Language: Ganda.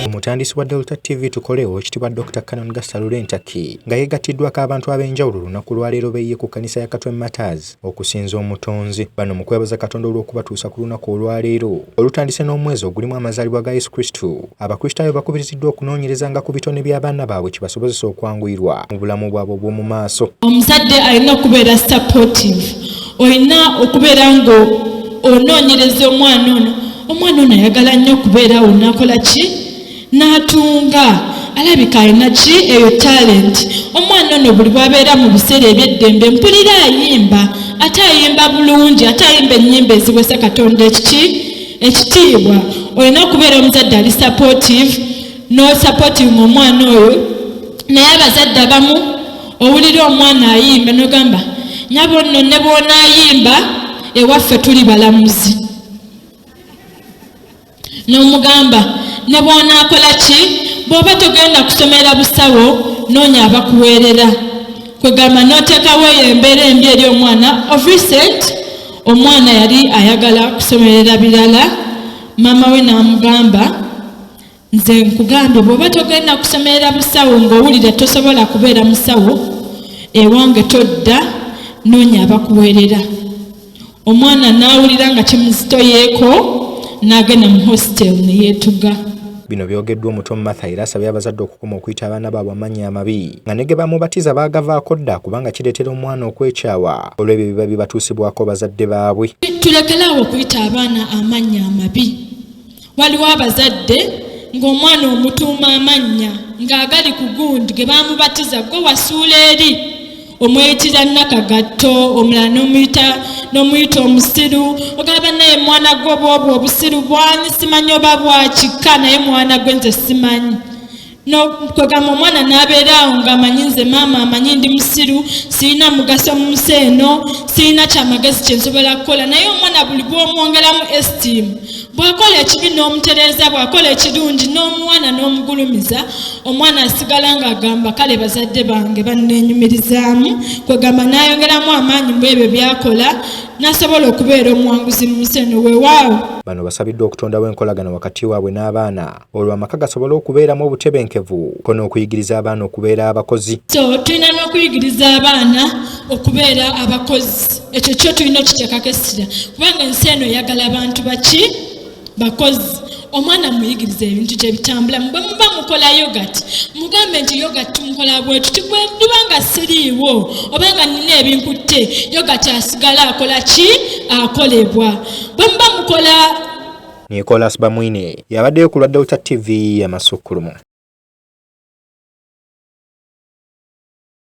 omutandisi wa Delta TV tukolewo ekitibwa Dr. Canon Gasta Lurentaki nga yegattiddwako abantu ab'enjawulo olunaku lwaleero beye ku kanisa ya Katwe Matters okusinza omutonzi bano mu kwebaza Katonda olw'okubatuusa ku lunaku olwaleero olutandise n'omwezi ogulimu amazaalibwa ga Yesu Kristo. Abakristaayo bakubiriziddwa okunoonyerezanga ku bitone by'abaana baabwe kibasobozese okwanguyirwa mu bulamu bwabwe obw'omu maaso. Omuzadde alina okubeera supportive. Olina okubeera ng'onoonyereza omwana ono. Omwana ono ayagala nnyo okubeera awo n'akola ki? N'atunga. Alabika alina ki? Eyo talenti. Omwana ono buli bw'abeera mu biseera eby'eddembe mpulira ayimba. Ate ayimba bulungi, ate ayimba ennyimba eziweesa Katonda ekiki? ekitiibwa olina okubeera omuzadde ali supportive no supportive mu omwana oyo naye abazadde abamu owulira omwana ayimba nogamba nyabo nno ne bwonaayimba ewaffe tuli balamuzi n'omugamba ne bwonaakola ki bw'oba togenda kusomera busawo noonya abakuweerera kwegamba n'oteekawo eyo embeera embi eri omwana of recent omwana yali ayagala kusomerera birala maama we n'amugamba nze nkugambye bw'oba togenda kusomerera busawo ng'owulira tosobola kubeera musawo ewange todda noonya abakuweerera omwana n'awulira nga kimuzitoyeeko n'agenda mu hostel ne yeetuga Bino byogeddwa omuto Martha era asabye abazadde okukoma okuyita abaana baabwe amannya amabi nga ne ge bamubatiza baagavaako dda kubanga kireetera omwana okwekyawa olw'ebyo ebiba bibatuusibwako bazadde baabwe. Tulekere awo okuyita abaana amannya amabi. Waliwo abazadde ng'omwana omutuuma amannya ng'agali ku gundi ge baamubatiza gwe wasuula eri omweyitira nakagatto omulala nomuyita nomuyita omusiru ogamba naye mwana gwe bwobwo obusiru bwani simanyi oba bwakikka naye mwana gwe nze simanyi nokwegamba omwana nabeera awo nga amanyi nze maama amanyi ndi musiru sirina mugaso mu nsi eno sirina kyamagezi kyensobola kukola naye omwana buli bwomwongeramu estiimu bw'akola ekibi n'omutereeza bw'akola ekirungi n'omuwana n'omugulumiza omwana asigala ng'agamba kale bazadde bange banneenyumirizaamu kwegamba n'ayongeramu amaanyi mu ebyo by'akola n'asobola okubeera omuwanguzi mu nsi eno weewaawo bano basabiddwa okutondawo enkolagana wakati waabwe n'abaana olwo amaka gasobole okubeeramu obutebenkevu ko n'okuyigiriza abaana okubeera abakozi so tulina n'okuyigiriza abaana okubeera abakozi ekyo kyo tulina okiteekako essira kubanga ensi eno eyagala abantu baki bakozi omwana muyigiriza ebintu gye bitambulamu bwe muba mukola yogati mugambe nti yogati tumukola bwetu tibwe ndiba nga siriiwo oba nga nina ebinkutte yogati asigala akola ki akolebwa bwe muba mukola Nicholas Bamwine yabaddeyo ku lwa Delta TV y'amasukkulumu.